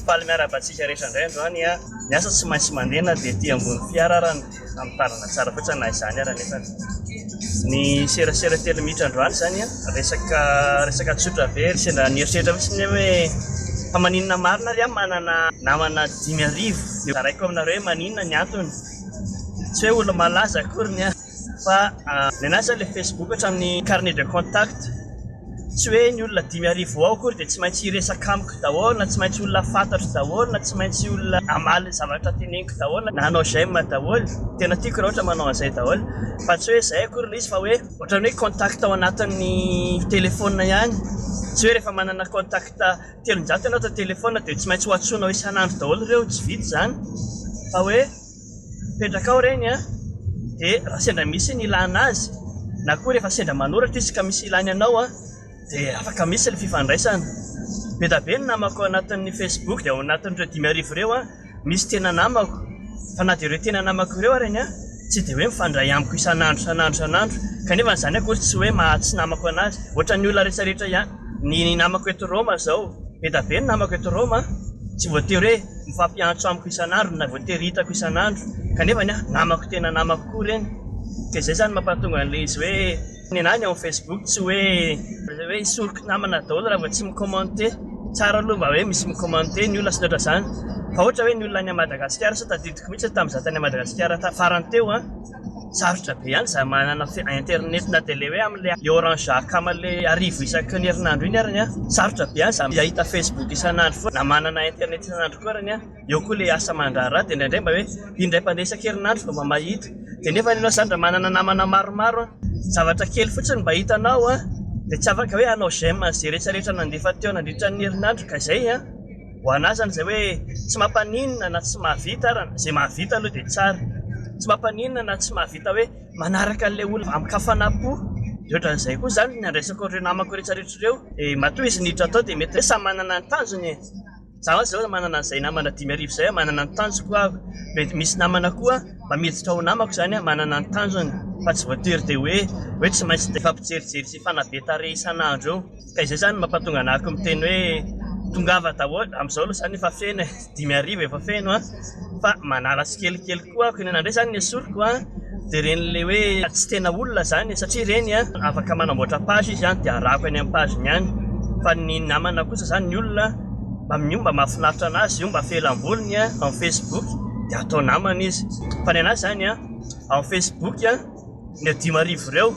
Faly miarahaba antsika rehetra indray androany a. Ny asa tsy maintsy mandeha na dia ety ambony fiara ara ny famotarana tsara fotsiny na izany ara nefa ny serasera telo mitra androany izany a. Resaka resaka tsotra be ry sendra nieritreritra fotsiny hoe fa maninona marina ary aho manana namana dimy arivo dia zaraiko aminareo hoe maninona ny antony. Tsy hoe olo-malaza akory ny ahy. Fa ny anahy zany le Facebook hatramin'ny carnet de contact, tsy hoe ny olona dimy arivo ao akory dia tsy maintsy hiresaka amiko daholo, na tsy maintsy olona fantatro daholo, na tsy maintsy olona hamaly ny zavatra teneniko daholo, na hanao j'aime daholo, tena tiako raha ohatra manao an'izay daholo, fa tsy hoe izay akory ilay izy fa hoe ohatran'ny hoe contact ao anatin'ny telephone ihany, tsy hoe rehefa manana contact telonjato ianao ato an-telephone dia tsy maintsy ho antsoinao isan'andro daholo ireo, tsy vita izany, fa hoe. Mipetraka ao ireny an! dia raha sendra misy ny ilana azy na koa rehefa sendra manoratra izy ka misy ilany anao an! dia afaka misy ny fifandraisana. Be da be ny namako ao anatin'ny Facebook dia ao anatin'ireo dimy arivo ireo an! misy tena namako fa na dia ireo tena namako ireo ary an! tsy dia hoe mifandray amiko isan'andro isan'andro isan'andro kanefa izany akory tsy hoe maha tsy namako anazy ohatran'ny olona rehetra rehetra ihany. Ny namako eto Roma izao, be da be ny namako eto Roma an! tsy voatery hoe. Mifampiantso amiko isan'andro na voatery hitako isan'andro kanefa ny ahy namako tena namako koa ireny ka izay izany mampahatonga an'ilay izy hoe ny anah ny ao amin'ny facebook tsy hoe hoe hisoroko namana daholo raha vao tsy mi-commenter tsara aloha mba hoe misy mi-commenter ny olona sy ny ohatr'izany fa ohatra hoe ny olona any Madagasikara sao tadidiko mihitsy tamin'izaho tany Madagasikara farany teo an! sarotra be ihany izay manana internet na dia le hoe amle orange akama le arivo isaky ny herinandro iny ary ny a sarotra be ihany izay ahita facebook isan'andro foana na manana internet isan'andro koa ary ny a eo koa le asa mandraharaha dia indraindray mba hoe indray mpandeha isan-kerinandro vao mba mahita dia nefa ny anao izany raha manana namana maromaro a zavatra kely fotsiny mba hitanao a dia tsy afaka hoe hanao j'aime an'izay rehetra rehetra nandefa teo nandritra ny herinandro ka izay a Ho anah zany izay hoe tsy mampaninona na tsy mahavita ara, izay mahavita aloha dia tsara, tsy mampaninona na tsy mahavita hoe manaraka an'ilay olona amin-kafanam-po, dia ohatran'izay koa izany ny andraisako an'ireo namako rehetrarehetra ireo, dia matoa izy niditra tao dia mety hoe samy manana ny tanjony e, za mantsy izao manana an'izay namana dimy arivo izay aho, manana ny tanjoko aho, mety misy namana koa mba miditra ho namako izany an, manana ny tanjony fa tsy voatery dia hoe hoe tsy maintsy dia efa mpijerijery sy mifanabe tarehy isan'andro eo. Ka izay zany mampatonga anah ko miteny hoe tongava daholo, amizao aloha zany efa feno e, dimy arivo efa feno an, fa manala tsikelikely koa aho, inona ndray zany ny esoriko an, dia ireny le hoe tsy tena olona zany e, satria ireny an afaka manamboatra page izy an dia arahako eny am page ny any, fa ny namana kosa zany ny olona mba amin'io mba mahafinaritra anazy io, mba fehelam-bolony an, ao am facebook dia atao namana izy, fa ny anah zany an ao am facebook an, ireo dimy arivo ireo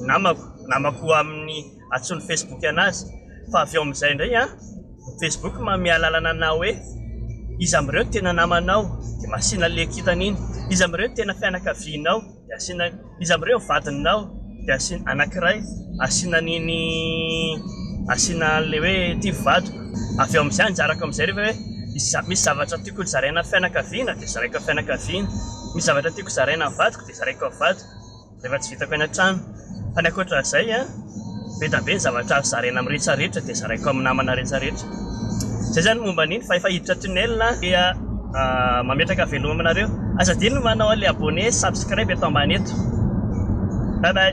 namako, namako amin'ny. Antsoin'ny Facebook anazy. Fa avy eo amin'izay indray an, ny Facebook manome alalana anao hoe iza amin'ireo no tena namanao, dia asiana an'ilay kintana iny. Iza amin'ireo no tena fianakavianao, dia asiana an'iny. Iza amin'ireo no vadinao, dia asiana anankiray, asiana an'iny, asiana an'ilay hoe ity vadiko. Avy eo amin'izay anjarako amin'izay rehefa hoe iza, misy zavatra tiako hozaraina amin'ny fianakaviana dia zaraiko amin'ny fianakaviana, misy zavatra tiako hozaraina amin'ny vadiko dia zaraiko amin'ny vadiko. Efa tsy vitako eny an-trano. Fa ny ankoatra izay, be dia be ny zavatra azo zaraina amin'ny rehetra rehetra dia zaraiko amin'ny namana rehetra rehetra. Izay izany no momba an'iny fa efa hiditra tunnel aho dia mametraka veloma aminareo. Aza adino ny manao an'ilay abonné sy subscribe eto ambany eto. Bye bye.